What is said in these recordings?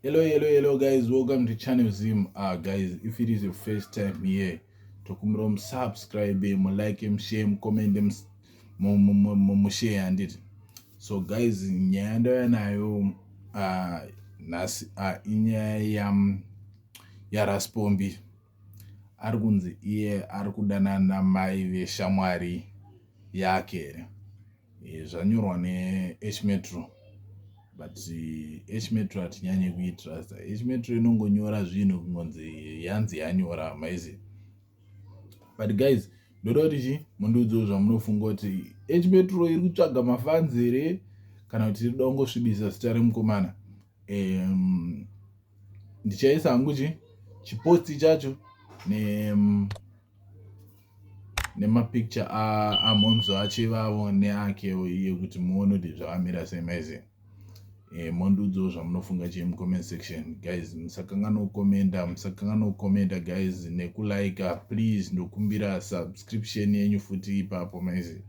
hello hello hello guys welcome to channel zim ah guys if it is your first time here tokumbira musubscribe mulike mushare mucommente mushare handiti so guys nyaya ndauya nayo ah, nhasi ah, inyaya yaraspombi ari kunzi iye ari kudanana mai veshamwari yake here eh, zvanyorwa nehmetro but hmetro hatinyanye kuitrasta hmetro inongonyora zvinhu kungonzi yanzi yanyora maizi but guys ndoda kuti chi mundiudzewo zvamunofunga kuti hmetro iri kutsvaga mafanzi here kana kuti tirida kungosvibisa zita remukomana um, ndichaisa hangu chi chiposti chacho ne um, nemapicture amhonzo acho ivavo neakewo iye kuti muone kuti zvavamira sei maiziva e, eh, mondiudzawo zvamunofunga chii mucomment section guys musakanganwa kukomenda musakanganwa kukomenda guys nekulika please ndokumbira subscription yenyu futi ipapo maiziva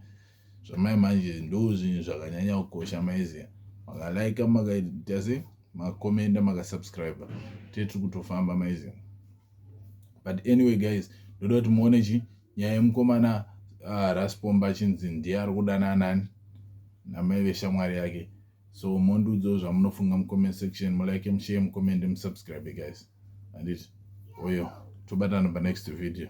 zvamai manje ndozvinhu zvakanyanya kukosha maiziva makalaika makaita se makomenda makasubscribe tee tiri kutofamba maiziva but anyway guys ndoda kuti muone chi nyaya yemukomana uh, raspomba achinzi ndiye ari kudana anani namai veshamwari yake so mondiudzawo zvamunofunga mucomment section mulike mushare mucomment musubscribe guys anditi oyo tobatana panext video